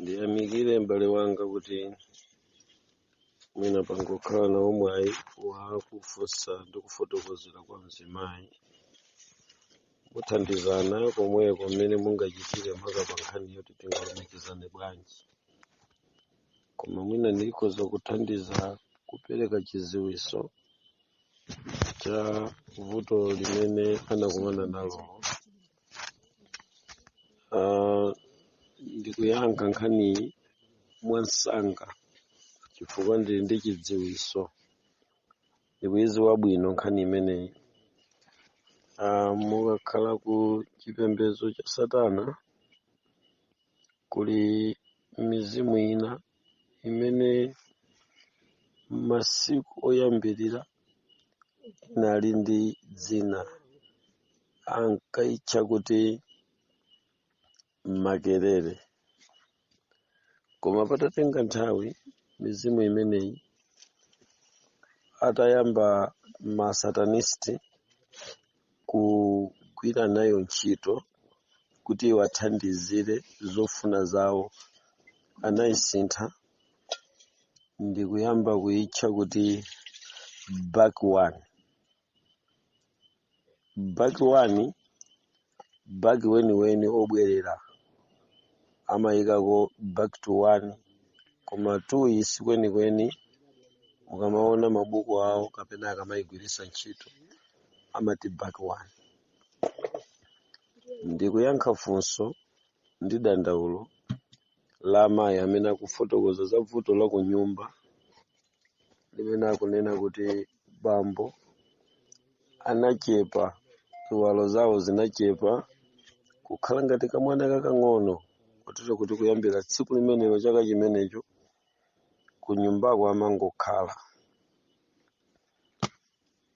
ndiyamikire m'bale wanga kuti mwina mwapanga ukhala nawo mwayi wakufunsa ndi kufotokozera kwa mzimayi muthandizana komweko mmene mungachitire makamaka nkhani yokuti tingalumikizane bwanji koma mwina ndikhoza kuthandiza kupereka chidziwitso cha vuto limene anakumana nalo Ah, ndikuyankha nkhaniyi mwansanga chifukwa ndili ndi chidziwitso ndikuyidziwa bwino nkhani imeneyi Ah, mukakhala ku chipembedzo cha satana kuli mizimu ina imene masiku oyambirira inali ndi dzina ankayitcha kuti makerere koma patatenga nthawi mizimu imeneyi atayamba masatanisti kugwira nayo ntchito kuti iwathandizire zofuna zawo anayisintha ndikuyamba kuyitcha kuti back one back one back weniweni obwerera amayikako back to one koma two si kwenikweni mukamaona mabuku awo kapena akamayigwiritsa ntchito amati back one ndikuyankha funso ndi dandaulo la mayi amene akufotokoza za vuto la kunyumba limene akunena kuti bambo anachepa ziwalo zawo zinachepa kukhala ngati kamwana kakang'ono kotero kuti kuyambira tsiku limenelo chaka chimenecho kunyumbako amangokhala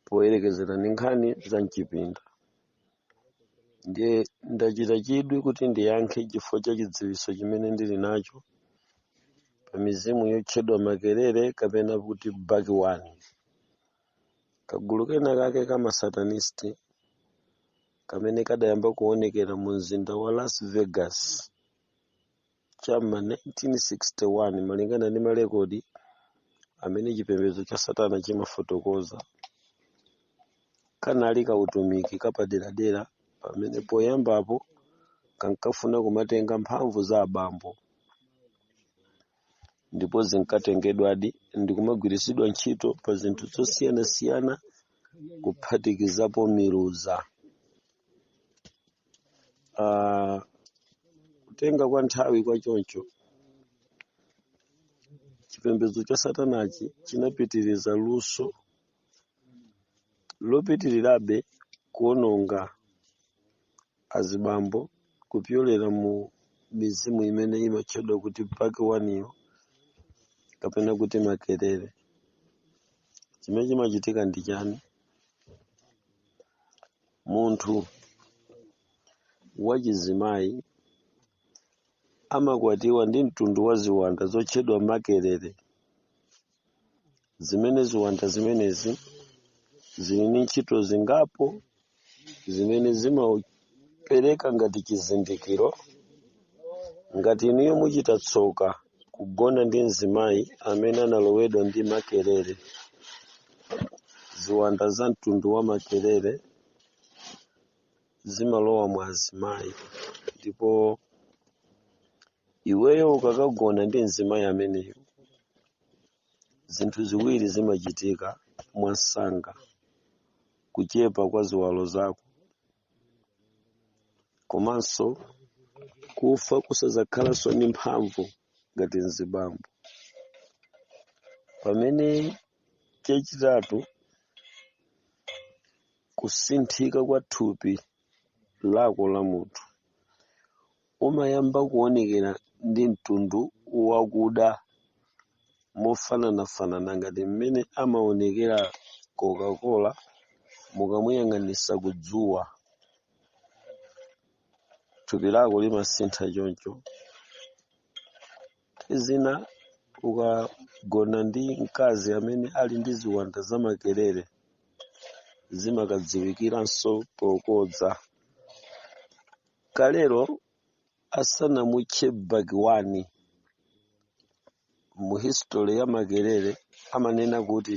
poyerekezera ndi nkhani za mchipinda ndiye ndachita chidwi kuti ndiyankhe chifukwa cha chidziwitso chimene ndili nacho pa mizimu yotchedwa makerere kapena kuti back one kagulu kena kake ka masatanisti kamene kadayamba kuonekera mu mzinda wa las vegas cha m'ma 1961 malingana ndi malekodi amene chipembedzo cha satana chimafotokoza kanali kautumiki kapaderadera pamene poyambapo kankafuna kumatenga mphamvu za abambo ndipo zinkatengedwadi ndi kumagwiritsidwa ntchito pa zinthu zosiyanasiyana kuphatikizapo miluza Ah, kutenga kwa nthawi kwa choncho chipembedzo cha satanachi chinapitiriza luso lopitirirabe kuononga azibambo kupyolera mu mizimu imene imatchedwa kuti bakiwaniyo kapena kuti makerere chimene chimachitika ndi chani munthu wachizimayi amakwatiwa ndi mtundu wa ziwanda zotchedwa makerere zimene ziwanda zimenezi zili ndi ntchito zingapo zimene zimapereka ngati chizindikiro ngati inuyo muchita tsoka kugona ndi mzimayi amene analowedwa ndi makerere ziwanda za mtundu wa makerere zimalowa mwa azimayi ndipo iweyo ukakagona ndi mzimayi ameneyo zinthu ziwiri zimachitika mwansanga kuchepa kwa ziwalo zako komanso kufa kusadzakhalanso ndi mphamvu ngati mzibambo pamene chachitatu kusinthika kwa thupi lako la munthu umayamba kuonekera ndi mtundu wakuda mofananafanana ngati mmene amaonekera Coca-Cola mukamuyang'anisa ku dzuwa. Thupi lako limasintha choncho. Nthawi zina ukagona ndi mkazi amene ali ndi ziwanda zamakerere zimakadziwikiranso pokodza. kalero asanamutche bakiwani mu history ya makerere amanena kuti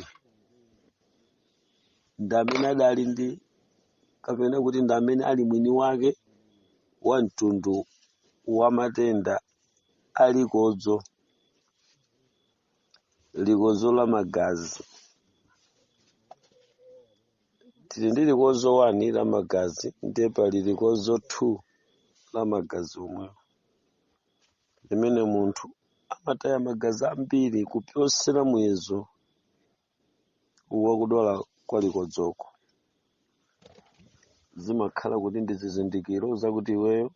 ndi amene adali ndi kapena kuti ndi amene ali mwini wake wa mtundu wa matenda a likodzo likodzo la magazi tili ndi likodzo 1 la magazi ndiye pali likodzo 2 la magazi omwewo limene munthu amataya magazi ambiri kupyosera muyezo wakudwala kwa likodzoko zimakhala kuti ndi zizindikiro zakuti iweyo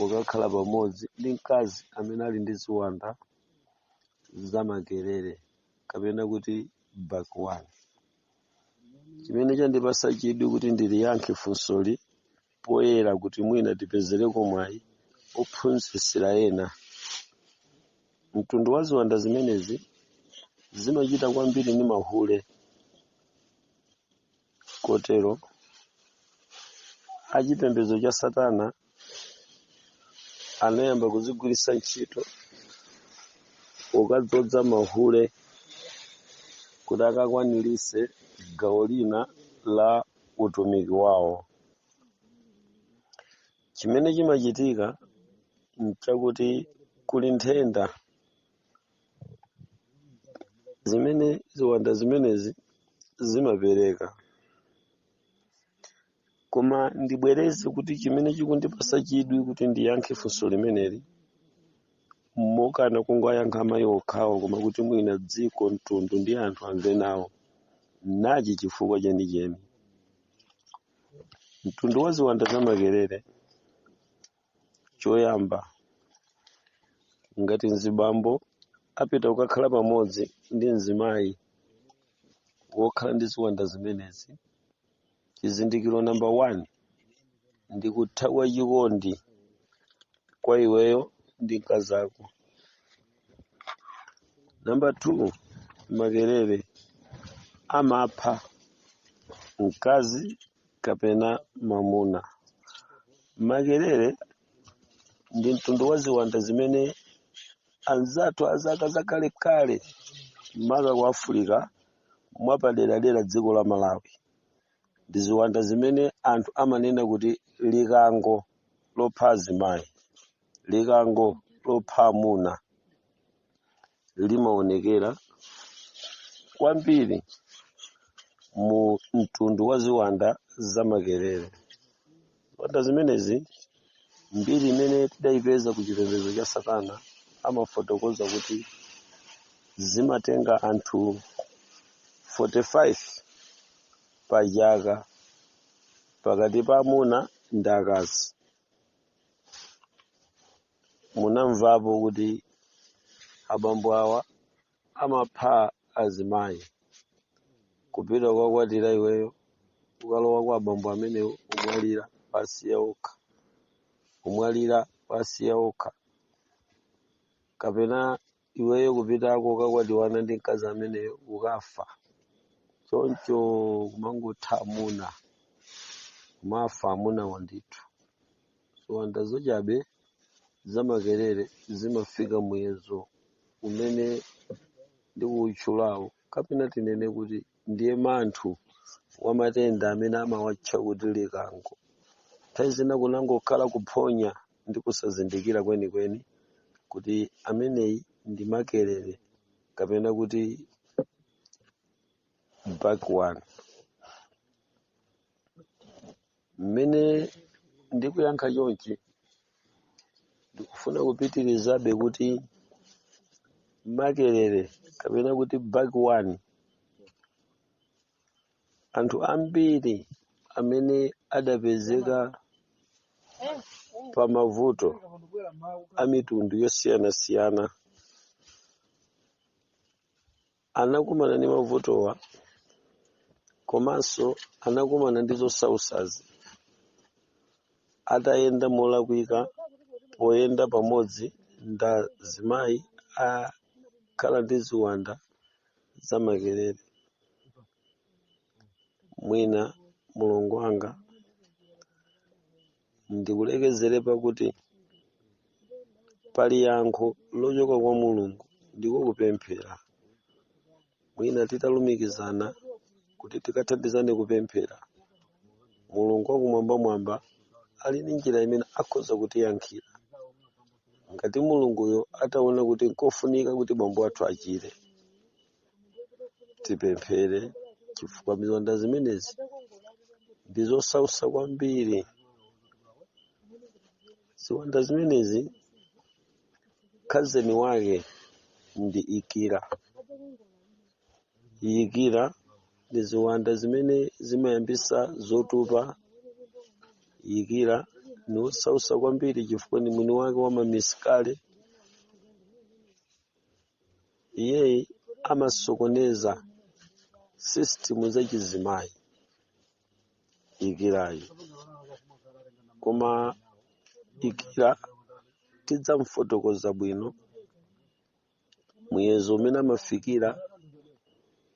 ukakhala pamodzi ndi mkazi amene ali ndi ziwanda zamakerere kapena kuti bakiwani chimene chandipasa chidwi kuti ndiliyankhe funsoli poyera kuti mwina tipezereko mwayi ophunzitsira ena mtundu wa ziwanda zimenezi zimachita kwambiri ndi mahule kotero achipembedzo cha satana anayamba kuzigwiritsa ntchito pokadzodza mahule kuti akakwanirise gawo lina la utumiki wawo chimene chimachitika nchakuti kuli nthenda zimene ziwanda zimenezi zimapereka koma ndibwereze kuti chimene chikundipasa chidwi kuti ndiyankhe funso limeneli mokana kungoyankha amayi okhawo koma kuti mwina dziko mtundu ndi anthu amve nawo nachi chifukwa chenicheni mtundu wa ziwanda za makerere choyamba ngati mzibambo apita kukakhala pamodzi ndi mzimayi wokhala ndi ziwanda zimenezi chizindikiro namba 1 ndi kutha kwa chikondi kwa iweyo ndi mkazi ako namba 2 makerere amapha mkazi kapena mamuna makerere ndi mtundu wa ziwanda zimene anzathu azaka zakalekale maka ku afirika mwapaderadera dziko la Malawi ndi ziwanda zimene anthu amanena kuti likango lopha azimayi, likango lopha amuna limaonekera kwambiri mu mtundu wa ziwanda zamakerere. Ziwanda zimenezi mbiri imene tidayipeza ku chipembedzo cha Satana amafotokoza kuti zimatenga anthu 45 pa chaka pakati pa amuna ndi akazi. Munamvapo kuti abambo awa amapha azimayi kupita kukakwatira iweyo ukalowa kwa abambo amenewo umwalira wasiya okha umwalira wasiya okha kapena iweyo kupitako ukakwatiwana ndi mkazi ameneyo ukafa choncho kumangotha amuna kumafa amuna wandithu ziwanda zochabe za makerere zimafika muyezo umene ndikuwutchulawo kapena tinene kuti ndiye manthu wa matenda amene amawatcha kuti likango nthawi zina kunangokhala kuphonya ndi kusazindikira kwenikweni kuti ameneyi ndi makerere kapena kuti backbone mmene ndikuyankha chonchi ndikufuna kupitirizabe kuti makerere kapena kuti backbone anthu ambiri amene adapezeka pa mavuto a mitundu yosiyanasiyana anakumana ndi mavutowa komanso anakumana ndi zosausazi atayenda molakwika poyenda pamodzi ndi azimayi akhala ndi ziwanda za makerere mwina mulongo wanga ndikulekezere pakuti pali yankho lochoka kwa mulungu ndiko kupemphera mwina titalumikizana kuti tikathandizane kupemphera mulungu wakumwambamwamba ali ndi njira imene akhoza kutiyankhira ngati mulunguyo ataona kuti nkofunika kuti bambo athu achire tipemphere chifukwa ziwanda zimenezi ndi zosausa kwambiri ziwanda zimenezi khazeni wake ndi ikira ikira ndi ziwanda zimene zimayambisa zotupa ikira ni wosausa kwambiri chifukwa ni mwini wake wa mamisikale iyeyi amasokoneza system za chizimayi ikirayi koma ikira tidzamfotokoza bwino muyezo umene amafikira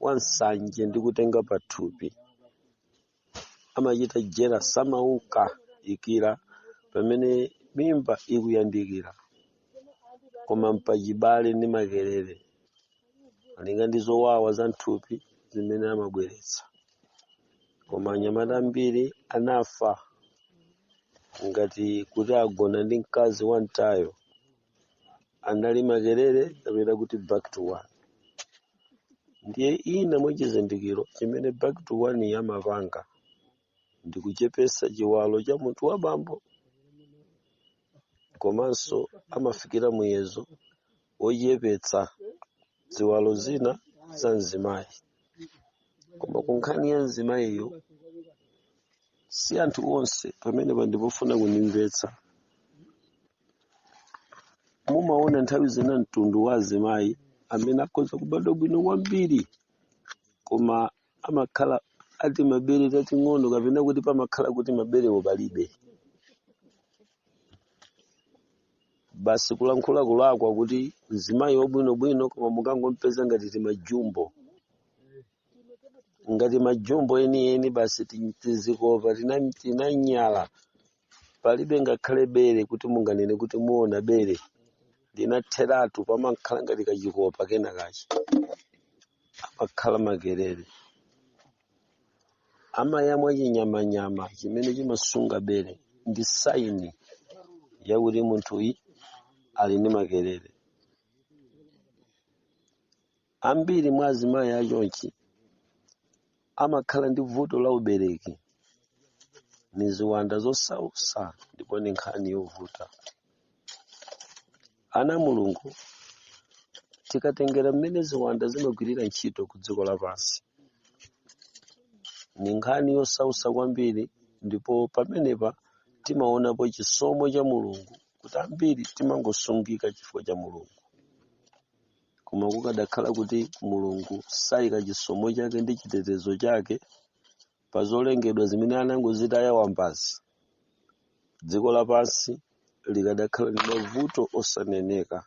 wa nsanje ndi kutenga pathupi amachita jera samauka ikira pamene mimba ikuyandikira koma mpachibale ndi makerere malinga ndi zowawa za mthupi zimene amabweretsa koma anyamata ambiri anafa ngati kuti agona ndi mkazi wa mtayo anali makerere kapena kuti back to one ndiye china mwa chizindikiro chimene back to one yamapanga ndi kuchepetsa chiwalo cha munthu wa bambo komanso amafikira muyezo wochepetsa ziwalo zina za mzimayi koma ku nkhani ya mzimayiyo si anthu onse pamenepa n'pofuna kundimvetsa mumaona nthawi zina mtundu wa azimayi amene akhoza kubadwa bwino kwambiri koma amakhala ndi mabere tating'ono kapena kuti pamakhala kuti maberewo palibe basi kulankhula kulakwa kuti mzimayi wabwinobwino koma mukangompeza ngati timajumbo ngati majumbo enieni basi tizikopa tinanyala palibe ngakhale bere kuti munganene kuti muona bere linatheratu pamakhala ngati kachikopa kena kake amakhala makerere amayamwa chinyamanyama chimene chimasunga bere ndi saini yakuti munthuyu ali ndi makerere Ambiri mwa azimayi achonchi amakhala ndi vuto la ubereki ni ziwanda zosautsa ndipo ni nkhani yovuta. Ana a Mulungu, tikatengera mmene ziwanda zimagwirira ntchito ku dziko lapansi, ni nkhani yosautsa kwambiri ndipo pamenepa timaonapo chisomo cha Mulungu kuti ambiri timangosungika chifukwa cha Mulungu. koma kukadakhala kuti Mulungu sayika chisomo chake ndi chitetezo chake pa zolengedwa zimene anangozitaya Ambaza dziko lapansi likadakhala ndi mavuto osaneneka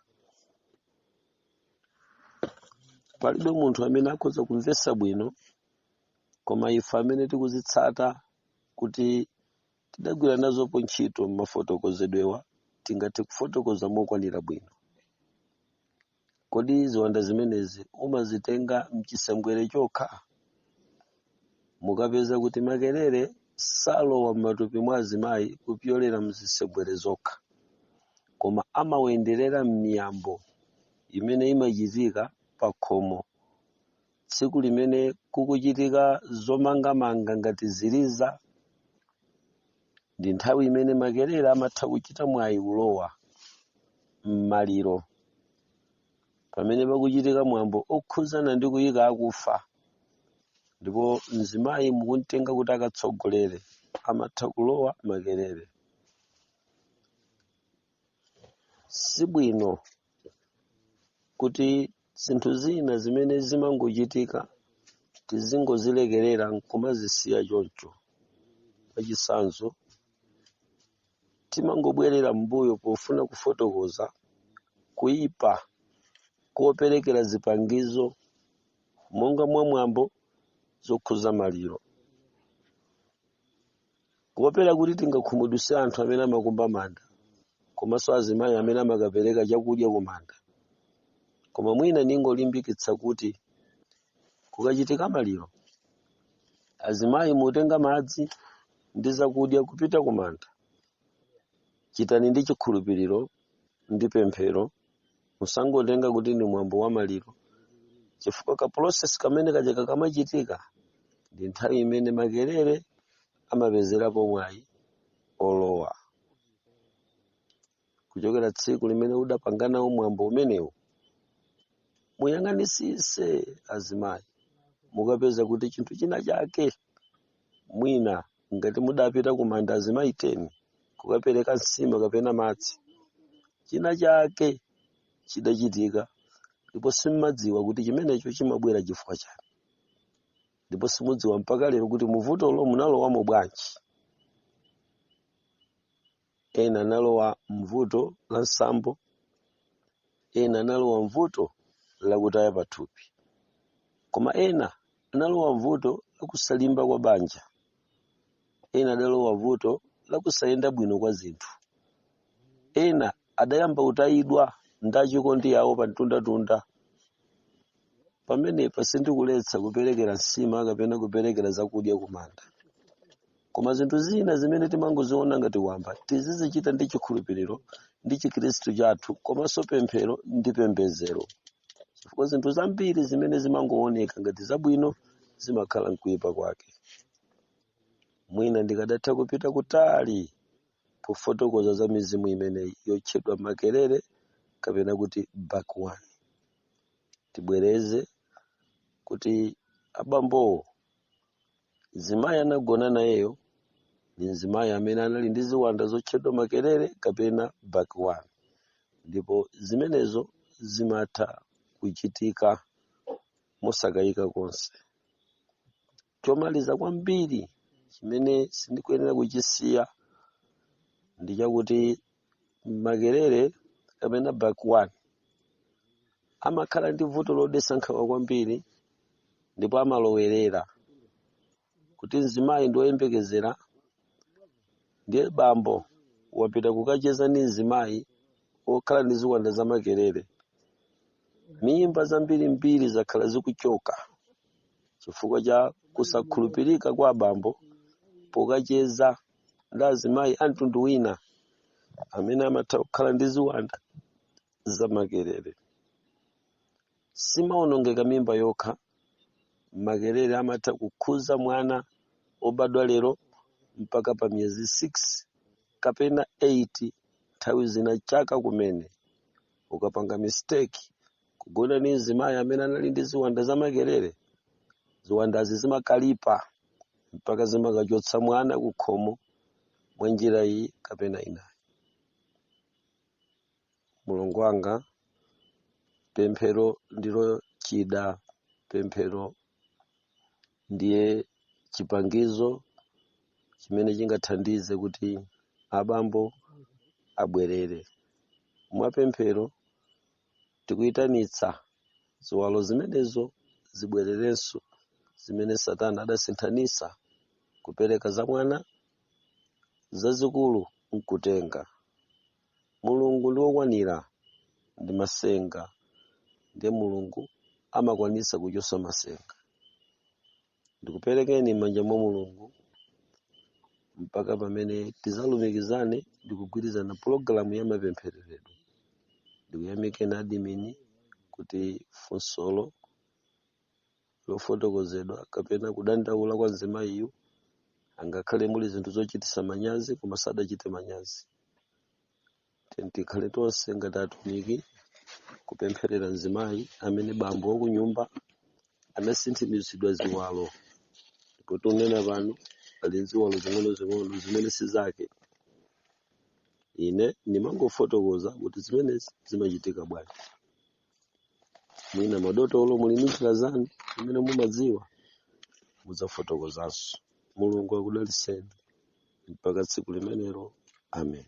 palibe munthu amene akhoza kumvetsa bwino koma ife amene tikuzitsata kuti tidagwira nazopo ntchito m'mafotokozedwewa tingathe kufotokoza mokwanira bwino. Kodi ziwanda zimenezi umazitenga m'chisembwere chokha? Mukapeza kuti makerere salowa m'matupi mwa azimayi kupyolera m'zisembwere zokha, koma amawenderera m'miyambo imene imachitika pakhomo tsiku limene kukuchitika zomangamanga ngati ziliza ndi nthawi imene makerere amatha kuchita mwayi kulowa m'maliro pamene pakuchitika mwambo okhudzana ndi kuyika akufa ndipo mzimayi mukumtenga kuti akatsogolere amatha kulowa makerere si bwino kuti zinthu zina zimene zimangochitika tizingozilekerera nkumazisiya choncho mwachitsanzo timangobwerera m'mbuyo pofuna kufotokoza kuipa koperekera zipangizo monga mwamwambo zokhuza maliro Kuopera kuti tingakhumudwitse anthu amene amakumba manda komanso azimayi amene amakapereka chakudya ku manda. Koma mwina ndingolimbikitsa kuti kukachitika maliro, azimayi mutenga madzi ndi zakudya kupita ku manda. Chitani ndi chikhulupiriro ndi pemphero musangotenga kuti ndi mwambo wa maliro chifukwa ka process kamene kaja kamachitika ndi nthawi imene makerere amapezerapo mwayi olowa kuchokera tsiku limene udapanganawo mwambo umenewu muyang'anisise azimayi mukapeza kuti chinthu china chake mwina ngati mudapita ku manda azimayi 10 kukapereka nsima kapena madzi china chake chidachitika ndipo simmadziwa kuti chimenecho chimabwera chifukwa chani ndipo simudziwa mpaka lero kuti muvutolo munalowamo bwanji ena analowa m'vuto la nsambo, ena analowa m'vuto la kutaya pathupi, koma ena analowa m'vuto la kusalimba kwa banja, ena adalowa m'vuto la kusayenda bwino kwa zinthu, ena adayamba kutayidwa ndi achikondi awo pamtundatunda. pamenepa sindikuletsa kuperekera nsima kapena kuperekera zakudya kumanda koma zinthu zina zimene timangoziona ngati wamba tizizichita ndi chikhulupiriro ndi chikhristu chathu komanso pemphero ndi pembedzero chifukwa zinthu zambiri zimene zimangooneka ngati zabwino zimakhala nkuipa kwake mwina ndikadatha kupita kutali pofotokoza za mizimu imeneyi yotchedwa makerere kapena kuti bakwan tibwereze kuti abambowo mzimayi anagona nayeyo ndi mzimayi amene anali ndi ziwanda zotchedwa makerere kapena bakwani ndipo zimenezo zimatha kuchitika mosakayika konse chomaliza kwambiri chimene sindikuyenera kuchisiya ndi chakuti makerere kapena bakwan amakhala ndi vuto lodetsa nkhawa kwambiri ndipo amalowerera koti mzimayi ndi woyembekezera ndiye bambo wapita kukacheza ndi mzimayi wokhala ndi ziwanda za makerere mimba zambirimbiri zakhala zikuchoka chifukwa cha kusakhulupirika kwa abambo pokacheza ndi azimayi a mtundu wina amene amatha kukhala ndi ziwanda zamakerere. Simawonongeka mimba yokha, makerere amatha kukhuza mwana obadwa lero mpaka pa miyezi 6 kapena 8 nthawi zina chaka kumene ukapanga mistake kugona ndi mzimayi amene anali ndi ziwanda zamakerere ziwandazi zimakalipa mpaka zimakachotsa mwana ku khomo mwa njira iyi kapena inayi mlongo wanga pemphero ndilo chida pemphero ndiye chipangizo chimene chingathandize kuti abambo abwerere mwapemphero Tikuitanitsa ziwalo zimenezo zibwererenso, zimene Satana adasinthanitsa, kupereka za mwana zazikulu nkutenga. Mulungu ndi wokwanira ndi masenga, ndiye Mulungu amakwanitsa kuchotsa masenga. ndikuperekeni m'manja mwa mulungu mpaka pamene tizalumikizane ndikugwirizana pulogalamu ya mapemphereredwe ndikuyamikeni adimini kuti funsolo lofotokozedwa kapena kudandaula kwa mzimayiyu angakhale muli zinthu zochitisa manyazi koma sadachite manyazi Tiyeni tikhale tonse ngati atumiki kupempherera mzimayi amene bambo wakunyumba anasinthimizidwa ziwalo ndipo tikunena pano ali ziwalo zing'onozing'ono zimene si zake ine ndimangofotokoza kuti zimenezi zimachitika bwanji mwina madotolo muli ndi njira zanu zimene mumadziwa mudzafotokozanso mulungu akudalitseni mpaka tsiku limenelo amen